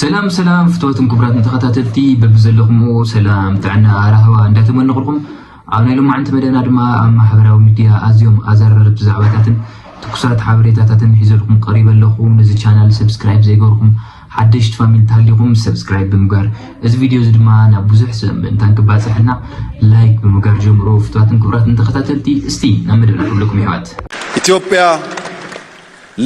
ሰላም ሰላም ፍትወትን ክቡራትን ተኸታተልቲ በብዘለኹምዎ ሰላም ጥዕና ራህዋ እንዳተመነቕልኩም ኣብ ናይ ሎማዕንቲ መደብና ድማ ኣብ ማሕበራዊ ሚድያ ኣዝዮም ኣዘራረብቲ ዛዕባታትን ትኩሳት ሓበሬታታትን ሒዘልኩም ቀሪበ ኣለኹ ነዚ ቻናል ሰብስክራይብ ዘይገርኩም ሓደሽቲ ፋሚሊ ተሃሊኹም ሰብስክራይብ ብምግባር እዚ ቪድዮ እዚ ድማ ናብ ብዙሕ ሰብ ምእንታን ክባፅሕና ላይክ ብምግባር ጀምሮ ፍትዋትን ክብራትን ተኸታተልቲ እስቲ ናብ መደብና ክብለኩም ይሕዋት ኢትዮጵያ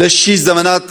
ለሺ ዘመናት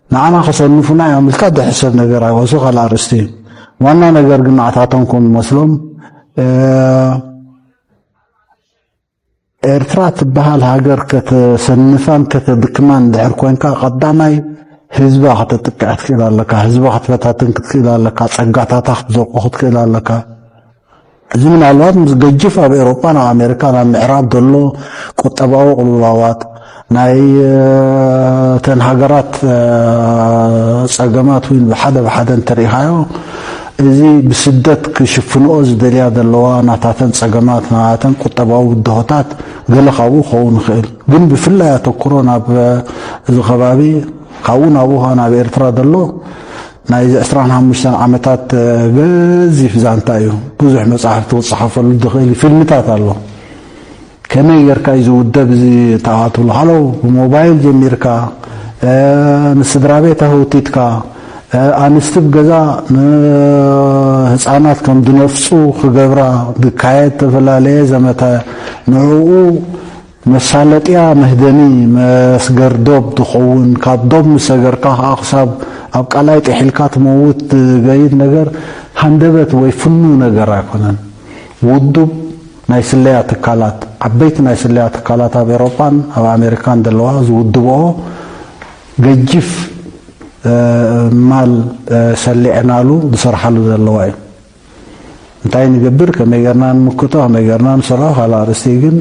ንዓና ክሰንፉና እዮም ኢልካ ድሕሰብ ነገር ኣዩ እሱ ካልእ ኣርእስቲ እዩ ዋና ነገር ግን ንዓታቶም ከም ዝመስሎም ኤርትራ ትበሃል ሃገር ከተሰንፋን ከተድክማን ድሕር ኮንካ ቀዳማይ ህዝባ ከተጥቅዕ ክትክእል ኣለካ ህዝባ ክትፈታትን ክትክእል ኣለካ ጸጋታታ ክትዘቁ ክትክእል ኣለካ እዚ ምናልባት ምስ ገጅፍ ኣብ ኤሮጳን ኣብ ኣሜሪካን ኣብ ምዕራብ ዘሎ ቁጠባዊ ቅልውላዋት ናይ ተን ሃገራት ጸገማት እውን ብሓደ ብሓደ እንተሪኢኻዮ እዚ ብስደት ክሽፍንኦ ዝደልያ ዘለዋ ናታተን ጸገማት ናታተን ቁጠባዊ ብድሆታት ገለ ካብኡ ክኸውን ይኽእል ግን ብፍላይ ኣተኩሮ ናብ እዚ ከባቢ ካብኡ ናብኡ ናብ ኤርትራ ዘሎ ናይዚ ዕስራን ሓሙሽተን ዓመታት ገዚፍ ዛንታ እዩ። ብዙሕ መጻሕፍቲ ክጸሓፈሉ ዝኽእል እዩ። ፊልምታት ኣሎ። ከመይ ጌርካ እዩ ዝውደብ እዚ ተኣ ትብሎ ሃሎ ብሞባይል ጀሚርካ ንስድራ ቤት ኣህውቲትካ ኣንስቲ ብ ገዛ ንህፃናት ከም ዝነፍፁ ክገብራ ዝካየድ ዝተፈላለየ ዘመተ ንዕኡ መሳለጥያ መህደሚ መስገር ዶብ ትኸውን። ካብ ዶብ ምስ ሰገርካ ከኣ ክሳብ ኣብ ቀላይ ጥሒልካ ትመውት ዝገይድ ነገር ሃንደበት ወይ ፍኑው ነገር ኣይኮነን። ውዱብ ናይ ስለያ ትካላት፣ ዓበይቲ ናይ ስለያ ትካላት ኣብ ኤሮጳን ኣብ ኣሜሪካን ዘለዋ ዝውድበኦ ገጂፍ ማል ሰሊዕናሉ ዝሰርሓሉ ዘለዋ እዩ። እንታይ ንገብር ከመይ ገርና ንምክቶ ከመይ ገርና ንሰርሖ ካልእ ኣርእስቲ ግን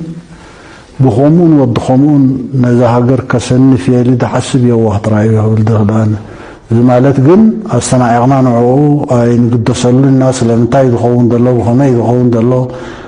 ብከምኡን ወዲ ከምኡን ነዛ ሃገር ከሰንፍ እየ ኢሊ ድሓስብ የዋህ ጥራይ እዩ ክብል ድኽእል ኣነ እዚ ማለት ግን ኣስተናዒቕና ንዕኡ ኣይንግደሰሉን ኢና ስለምንታይ ዝኸውን ዘሎ ብከመይ ዝኸውን ዘሎ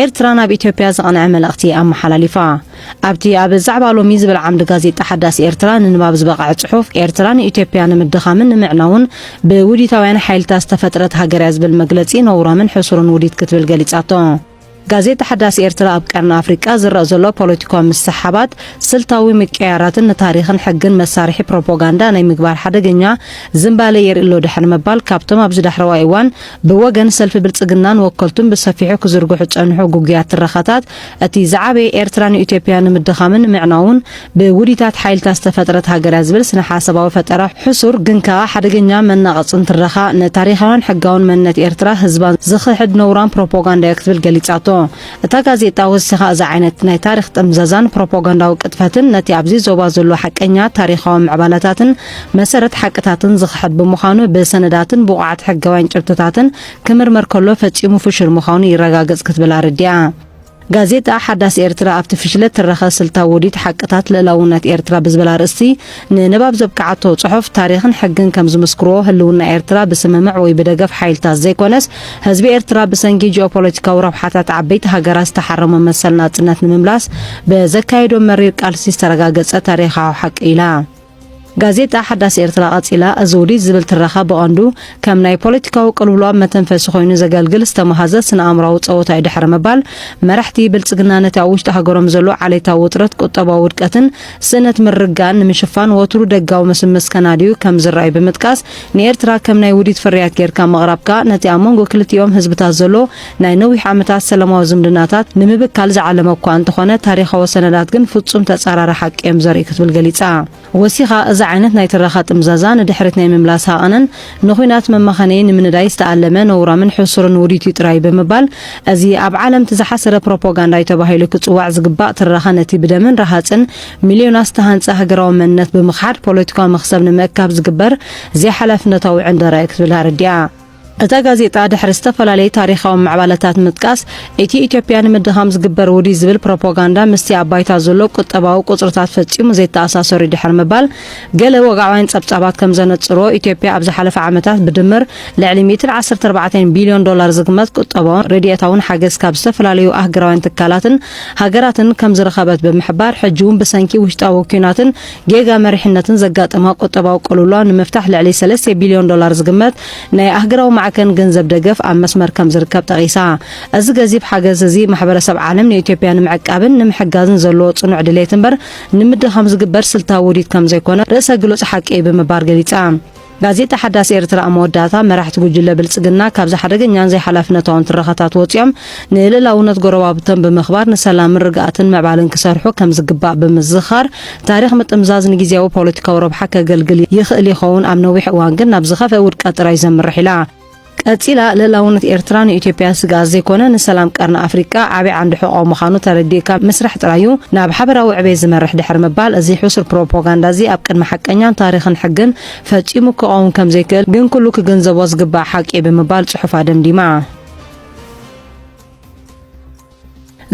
ኤርትራ ናብ ኢትዮጵያ ዝቐንዐ መልእኽቲ ኣመሓላሊፋ። ኣብቲ ኣብ ዛዕባ ሎሚ ዝብል ዓምዲ ጋዜጣ ሓዳስ ኤርትራ ንንባብ ዝበቐዐ ጽሑፍ፣ ኤርትራ ንኢትዮጵያ ንምድኻምን ንምዕናውን ብውዲታውያን ሓይልታት ዝተፈጥረት ሃገር'ያ ዝብል መግለጺ ነውራምን ሕሱርን ውዲት ክትብል ገሊጻቶ። ጋዜጣ ሓዳስ ኤርትራ ኣብ ቀርኒ ኣፍሪቃ ዝረእ ዘሎ ፖለቲካዊ ምስሕሓባት፣ ስልታዊ ምቅይያራትን ንታሪኽን ሕግን መሳርሒ ፕሮፖጋንዳ ናይ ምግባር ሓደገኛ ዝንባለ የርኢ'ሎ ድሕሪ ምባል፣ ካብቶም ኣብዚ ዳሕረዋይ እዋን ብወገን ሰልፊ ብልጽግናን ወከልቱን ብሰፊሑ ክዝርግሑ ዝጸንሑ ግጉያት ትረኻታት፣ እቲ ዝዓበየ ኤርትራ ንኢትዮጵያ ንምድኻምን ንምዕናውን ብውዲታት ሓይልታት ዝተፈጥረት ሃገርያ ዝብል ስነ-ሓሳባዊ ፈጠራ ሕሱር ግን ከኣ ሓደገኛ መናቐጽን ትረኻ ንታሪኻውን ሕጋውን መንነት ኤርትራ ህዝባን ዝኽሕድ ነውራም ፕሮፖጋንዳዮ ክትብል ገሊጻቶ። እታ ጋዜጣ ወሲኻ እዚ ዓይነት ናይ ታሪኽ ጥምዘዛን ፕሮፖጋንዳዊ ቅጥፈትን ነቲ ኣብዚ ዞባ ዘሎ ሓቀኛ ታሪኻዊ ምዕባለታትን መሰረት ሓቅታትን ዝኽሕድ ብምዃኑ ብሰነዳትን ብቑዓት ሕጋውያን ጭብጥታትን ክምርመር ከሎ ፈጺሙ ፍሹል ምዃኑ ይረጋገጽ ክትብል ኣረዲኣ። ጋዜጣ ሓዳስ ኤርትራ ኣብቲ ፍሽለት ትረኸ ስልታዊ ውዲት ሓቅታት ልእላውነት ኤርትራ ብዝብል ኣርእስቲ ንንባብ ዘብቅዓቶ ጽሑፍ፣ ታሪኽን ሕግን ከም ዝምስክርዎ፣ ህልውና ኤርትራ ብስምምዕ ወይ ብደገፍ ሓይልታት ዘይኮነስ፣ ህዝቢ ኤርትራ ብሰንኪ ጂኦፖለቲካዊ ረብሓታት ዓበይቲ ሃገራት ዝተሓረሞ መሰል ናጽነት ንምምላስ ብዘካየዶ መሪር ቃልሲ ዝተረጋገጸ ታሪኻዊ ሓቂ ኢላ። ጋዜጣ ሓዳስ ኤርትራ ቀጺላ፣ እዚ ውዲት ዝብል ትረኻ ብቐንዱ ከም ናይ ፖለቲካዊ ቅልውላው መተንፈሲ ኮይኑ ዘገልግል ዝተማህዘ ስነ-ኣእምሮኣዊ ጸወታ'ዩ ድሕሪ ምባል፣ መራሕቲ ብልጽግና ነቲ ኣብ ውሽጢ ሃገሮም ዘሎ ዓሌታዊ ውጥረት፣ ቁጠባዊ ውድቀትን፣ ስእነት ምርጋን ንምሽፋን ወትሩ ደጋዊ ምስምስ ከናድዩ ከም ዝረኣዩ ብምጥቃስ፣ ንኤርትራ ከም ናይ ውዲት ፍርያት ጌርካ ምቕራብካ፣ ነቲ ኣብ መንጎ ክልቲኦም ህዝብታት ዘሎ ናይ ነዊሕ ዓመታት ሰላማዊ ዝምድናታት ንምብካል ዝዓለመ እኳ እንተኾነ፣ ታሪኻዊ ሰነዳት ግን ፍጹም ተጻራሪ ሓቂ እዮም ዘርእዩ ክትብል ገሊጻ። ወሲኻ፣ እዚ ዓይነት ናይ ትረኻ ጥምዛዛ ንድሕሪት ናይ ምምላስ ሃቐንን፣ ንኩናት መማኸኒ ንምንዳይ ዝተኣለመ ነውራምን ሕሱርን ውዲት እዩ ጥራይ ብምባል፣ እዚ ኣብ ዓለም እቲ ዝሓሰረ ፕሮፖጋንዳ እዩ ተባሂሉ ክጽዋዕ ዝግባእ ትረኻ ነቲ ብደምን ረሃጽን ሚልዮናት ዝተሃንጸ ሃገራዊ መንነት ብምኽሓድ ፖለቲካዊ መኽሰብ ንምእካብ ዝግበር ዘይሓላፍነታዊ ዕንደራ'ዩ ክትብል ኣረዲኣ። እታ ጋዜጣ ድሕሪ ዝተፈላለዩ ታሪኻዊ ምዕባለታት ምጥቃስ፣ እቲ ኢትዮጵያ ንምድኻም ዝግበር ውዲት ዝብል ፕሮፖጋንዳ ምስቲ ኣብ ባይታ ዘሎ ቁጠባዊ ቁጽርታት ፈጺሙ ዘይተኣሳሰር'ዩ ድሕሪ ምባል፣ ገለ ወግዓውያን ጸብጻባት ከም ዘነጽርዎ፣ ኢትዮጵያ ኣብ ዝሓለፈ ዓመታት ብድምር ልዕሊ ሚእትን ዓሰርተ ኣርባዕተን ቢልዮን ዶላር ዝግመት ቁጠባውን ረዲኤታውን ሓገዝ ካብ ዝተፈላለዩ ኣህግራውያን ትካላትን ሃገራትን ከም ዝረኸበት ብምሕባር፣ ሕጂ'ውን ብሰንኪ ውሽጣዊ ኲናትን ጌጋ መሪሕነትን ዘጋጠማ ቁጠባዊ ቅልውላው ንምፍታሕ ልዕሊ ሰለስተ ቢልዮን ዶላር ዝግመት ናይ ኣህግራዊ ማዕከን ገንዘብ ደገፍ ኣብ መስመር ከም ዝርከብ ጠቒሳ። እዚ ገዚፍ ሓገዝ እዚ ማሕበረሰብ ዓለም ንኢትዮጵያ ንምዕቃብን ንምሕጋዝን ዘለዎ ጽኑዕ ድሌት እምበር ንምድኻም ዝግበር ስልታዊ ውዲት ከም ዘይኮነ ርእሰ ግሉጽ ሓቂ እዩ ብምባር ገሊጻ። ጋዜጣ ሓዳስ ኤርትራ ኣብ መወዳእታ፣ መራሕቲ ጉጅለ ብልጽግና ካብዚ ሓደገኛን ዘይሓላፍነታውን ትረኻታት ወጺኦም ንልእላውነት ጎረባብቶም ብምኽባር ንሰላምን ርግኣትን ምዕባለን ክሰርሑ ከም ዝግባእ ብምዝኻር ታሪኽ ምጥምዛዝ ንጊዜያዊ ፖለቲካዊ ረብሓ ከገልግል ይኽእል ይኸውን ኣብ ነዊሕ እዋን ግን ናብ ዝኸፍኤ ውድቀት ጥራይ ዘምርሕ ኢላ። ቀጺላ ልእላውነት ኤርትራ ንኢትዮጵያ ስግኣት ዘይኮነ ንሰላም ቀርኒ ኣፍሪቃ ዓቢ ዓንዲ ሕቖ ምዃኑ ተረዲእካ ምስራሕ ጥራይ'ዩ ናብ ሓበራዊ ዕቤት ዝመርሕ ድሕሪ ምባል እዚ ሕሱር ፕሮፖጋንዳ'ዚ ኣብ ቅድሚ ሓቀኛን ታሪኽን ሕግን ፈጺሙ ክቐውም ከም ዘይክእል ግን ኩሉ ክግንዘቦ ዝግባእ ሓቂ'ዩ ብምባል ጽሑፋ ደምዲማ።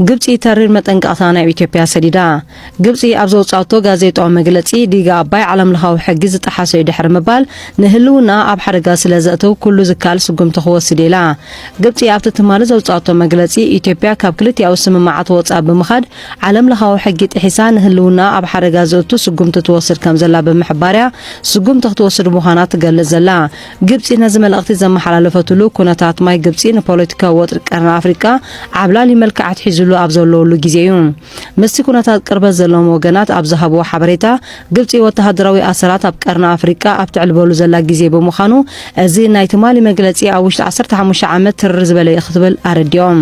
ግብጺ ተሪር መጠንቀቕታ ናብ ኢትዮጵያ ሰዲዳ። ግብጺ ኣብ ዘውጻቶ ጋዜጣዊ መግለጺ፣ ዲጋ ኣባይ ዓለምለኻዊ ሕጊ ዝጠሓሰ'ዩ ድሕሪ ምባል፣ ንህልውናኣ ኣብ ሓደጋ ስለ ዘእትው ኩሉ ዝከኣል ስጉምቲ ክወስድ'የ ኢላ። ግብጺ ኣብቲ ትማሊ ዘውጻቶ መግለጺ፣ ኢትዮጵያ ካብ ክልቲኣዊ ስምምዓት ወጻኢ ብምኻድ ዓለምለኻዊ ሕጊ ጥሒሳ ንህልውናኣ ኣብ ሓደጋ ዘእቱ ስጉምቲ ትወስድ ከም ዘላ ብምሕባር'ያ ስጉምቲ ክትወስድ ምዃና ትገልጽ ዘላ። ግብጺ ነዚ መልእኽቲ ዘመሓላለፈትሉ፣ ኩነታት ማይ ግብጺ ንፖለቲካዊ ወጥሪ ቀርኒ ኣፍሪቃ ዓብላሊ መልክዕ ኣትሒዙሉ ኣብ ዘለወሉ ግዜ እዩ። ምስቲ ኩነታት ቅርበት ዘለዎም ወገናት ኣብ ዝሃብዎ ሓበሬታ፣ ግብጺ ወተሃደራዊ ኣሰራት ኣብ ቀርኒ ኣፍሪቃ ኣብ ተዕልበሉ ዘላ ግዜ ብምዃኑ፣ እዚ ናይ ትማሊ መግለጺ ኣብ ውሽጢ ዓሰርተ ሓሙሽተ ዓመት ትርር ዝበለ እዩ ክትብል ኣረዲኦም።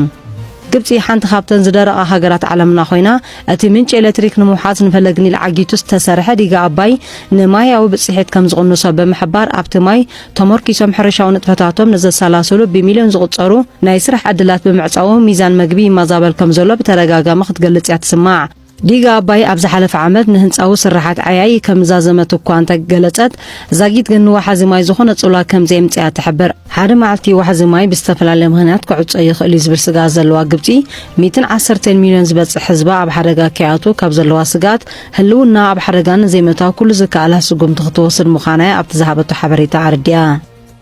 ግብጺ ሓንቲ ካብተን ዝደረቓ ሃገራት ዓለምና ኮይና፣ እቲ ምንጪ ኤለትሪክ ንምውሓስ ንፈለግ ኒል ዓጊቱ ዝተሰርሐ ዲጋ ኣባይ ንማያዊ ብጽሒት ከም ዝቕንሶ ብምሕባር ኣብቲ ማይ ተሞርኪሶም ሕርሻዊ ንጥፈታቶም ንዘሰላስሉ ብሚልዮን ዝቑጸሩ ናይ ስራሕ ዕድላት ብምዕጻዉ ሚዛን መግቢ ይማዛበል ከም ዘሎ ብተደጋጋሚ ክትገልጽ እያ ትስማዕ። ዲጋ ኣባይ ኣብ ዝሓለፈ ዓመት ንህንጻዊ ስርሓት ዓያዪ ከም ዛዘመት እኳ እንተ ገለጸት ዛጊት ግን ንወሓዚ ማይ ዝኾነ ጽልዋ ከም ዘየምጽኣ ትሕብር። ሓደ መዓልቲ ወሓዚ ማይ ብዝተፈላለየ ምኽንያት ክዕጾ ይኽእል እዩ ዝብል ስግኣት ዘለዋ ግብጺ፣ ሚእትን ዓሰርተን ሚልዮን ዝበጽሕ ህዝባ ኣብ ሓደጋ ከይኣትዉ ካብ ዘለዋ ስግኣት፣ ህልውንኣ ኣብ ሓደጋ ንዘይምእታው ኩሉ ዝከኣላ ስጉምቲ ክትወስድ ምዃና'ያ ኣብቲ ዝሃበቶ ሓበሬታ ኣረዲኣ።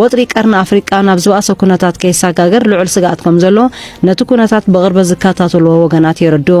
ወጥሪ ቀርኒ ኣፍሪቃ ናብ ዝበኣሰ ኩነታት ከይሰጋገር ልዑል ስግኣት ከም ዘሎ ነቲ ኩነታት ብቕርበት ዝከታተልዎ ወገናት የረድኡ።